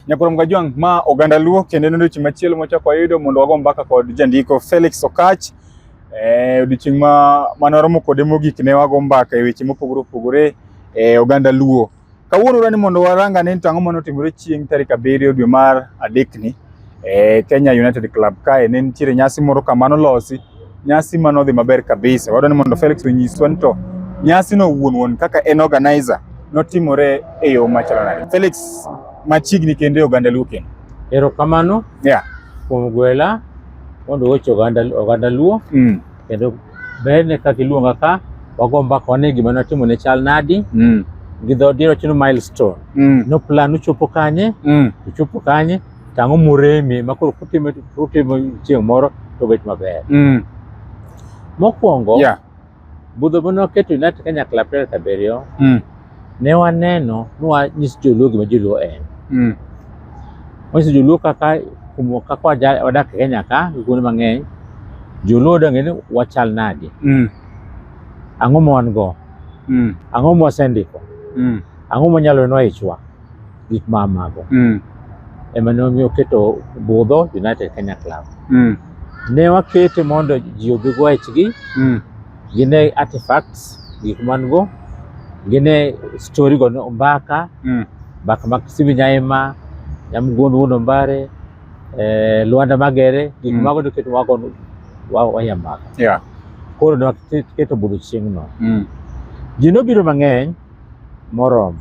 Nyakoro Mgajwang' ma oganda Luo kendo ne odiochieng' machielo mwachako wayudo mondo wago mbaka kod jandiko Felix Okach. Eh, odiochieng' ma mane waromo kode mogik ne wago mbaka e weche mopogore opogore e oganda Luo. Kawuono rani mondo warang ane ni to ang'o mane otimore chieng' tarik abiriyo dwe mar adekni e Kenya United Club kae ne nitiere nyasi moro kamano losi Nyasi ma nodhi maber kabisa. Wadwa ni mondo Felix onyiswa ni to nyasi no wuon wuon kaka en organizer notimore e yo machalo nade. Felix machiegni kendo e oganda Luo kendo. Erokamano. Yeah. Kuom gwela mondo weche oganda oganda Luo. Mm. Kendo ber ne kaka iluonga ka wago mbaka wane gima natimo ne chal nadi. Mm. Gi dho diro chino milestone. Mm. No plan uchopo kanye. Mm. Uchopo kanye. to ang'o moremi ma koro kutimo kutimo chieng' moro to bet maber. Mm. Mokwongo, Yeah. budho mane waketo United Kanyakla April abiriyo, Mm. ne waneno ni wanyis joluo gima joluo en. Mm. Wanyiso joluo kaka kumo kaka waja- wadak e Kenya ka gi kuonde mang'eny, joluo donge ni wachal nadi, Mm. ang'o ma wan go, Mm. ang'o ma wasendiko, Mm. ang'o manyalo nwa ichwa. gik ma mago mm. ema ne omiyo oketo budho United Kenya Club mm. ne wakete mondo ji obi go echgi mm. gine artifacts gik man go gine story go mbaka mm. mbaka mag Simbi Nyaima Nyamguondo Wuon Ombare eh, Luanda Magere gik mm. mago noketo wago waya mbaka yeah. koro ne waketo budho chieng'no mm. ji nobiro mang'eny moromo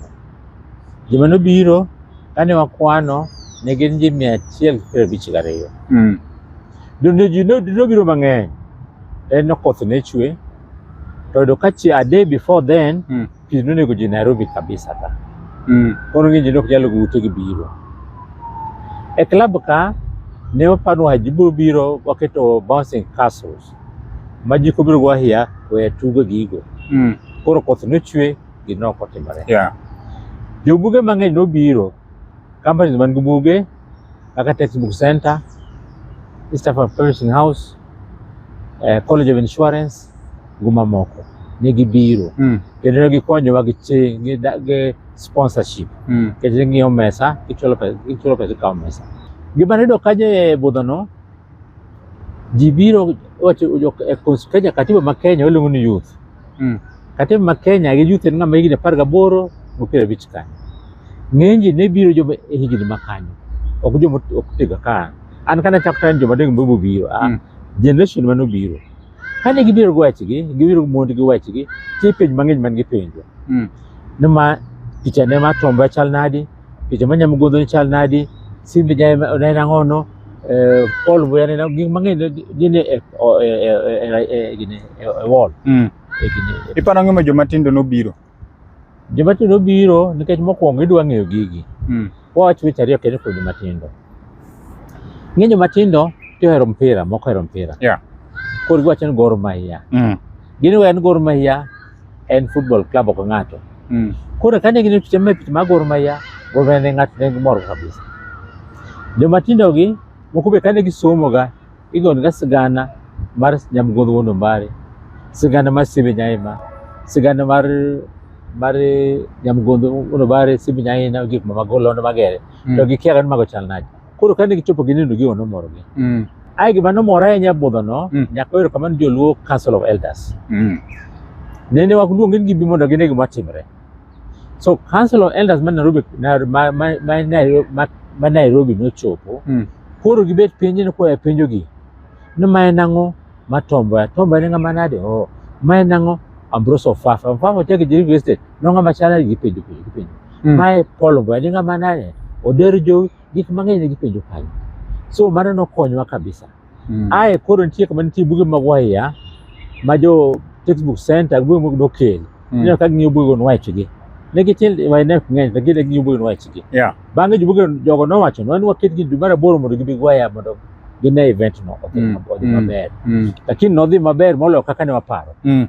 Joma nobiro kane wakwano ne gin ji mia achiel piero abich gariyo. Mm. Donde ji no- nobiro mang'eny en ni koth ne chwe to yudo ka chi a day before then Mm. pi nonego ji Nairobi kabisa ka Mm. koro ng'eny ji ne ok nyal go ute gi biro. E klab ka ne waparo wa ji biro biro waketo bouncing castles ma ji kobiro go ahiya weya tugo gigo. Mm. Koro koth nochwe gino ok otimore. Yeah. Jobuge mang'eny nobiro, companies man gi buge kaka Textbook Center, East African Publishing House, eh, College of Insurance gi mamoko ne gibiro mm. kendo ne gikonyowa gi ching gi, gi sponsorship mm. kendo ne ng'iewo mesa gichulo pesa gichulo pesa ikawo mesa gima nayudo kanyo e budhono ji biro wacho e Kenya katiba ma Kenya waluongo ni youth mm. kata ma Kenya gi youth ng'ama higni apar gaboro go piero abich kanyo ng'eny ji ne biro joma e higni ma kanyo ok joma ok tiga ka an kana chak tan joma deng bobo biro ah, mm. generation mano biro kane gibiro gi wachgi gibiro mond gi wachgi tie penj mang'eny man gi penjo mm. nima picha ne ma tomba chal nadi picha ma nyamgodho ni chal nadi, simbe ja en ang'ono, eh, pol buya ne gik mang'eny gin e o- e- e- e- e- e- gini, e- e wall. Mm. E gini, e- Iparo ang'o ma joma tindo nobiro? Joma tindo biro nikech mokwongo idwa ng'eyo gigi. Mm. Wawach weche ariyo kendo kuom joma tindo. Ng'e joma tindo ti ohero mpira, moko ohero mpira. Yeah. Koro giwacho ni Gor Mahia. Mm. Gini we en Gor Mahia en football club ok ng'ato. Mm. Koro kane gin picha me picha mag Gor Mahia, Gor Mahia ne ng'ato ne gimor kabisa. Joma tindo gi moko be kane gisomo ga igon ga sigana mar Nyamgodho Wuon Ombare, sigana mar Simbe Nyaima, sigana mar mar Nyamgodho Wuon Ombare, Simbe Nyaima gik ma magolo magere. Mm. To gikia ni mago chal nade. Koro kane gichopo ginindo gigo nomorogi. Mm. Ae gima nomora ahinya budhono, Mm. nyaka oyero kamano joluo Council of Elders. Mm. Nende waluonge ni gibi mondo gine gima timre. So Council of Elders ma Nairobi, na- ma, ma, ma, Nairobi, ma, ma Nairobi nochopo, Mm. koro gibet piny ni koya penjogi ni ma en ang'o ma tomboya tomboya ne ng'ama nade oh, ma en ang'o Ambrose Ofafa Ofafa ochako e Jeriko Estate no ng'ama chal nade gipenjo penjo gipenjo Mm. Mae Paul Obwene ng'ama naye oder jowi gik mang'eny ne gipenjo kanyo. So mano nokonyowa kabisa. Mm. Ae koro nitie kama nitie buge mag waiya ma jo textbook center buge mag dokel. Mm. Ineno ka ging'iyo buge go nwachgi. Ne gitin wainek ng'eny to gine ging'iyo buge nwachgi. Yeah. Bang'e jo buge jogo nowacho no ni waketgi dwe mar aboro mondo gibi gwaya mondo gine event no odhi Mm. odhi Mm. maber. Mm. Lakini nodhi maber moloyo kaka ne waparo. Mm.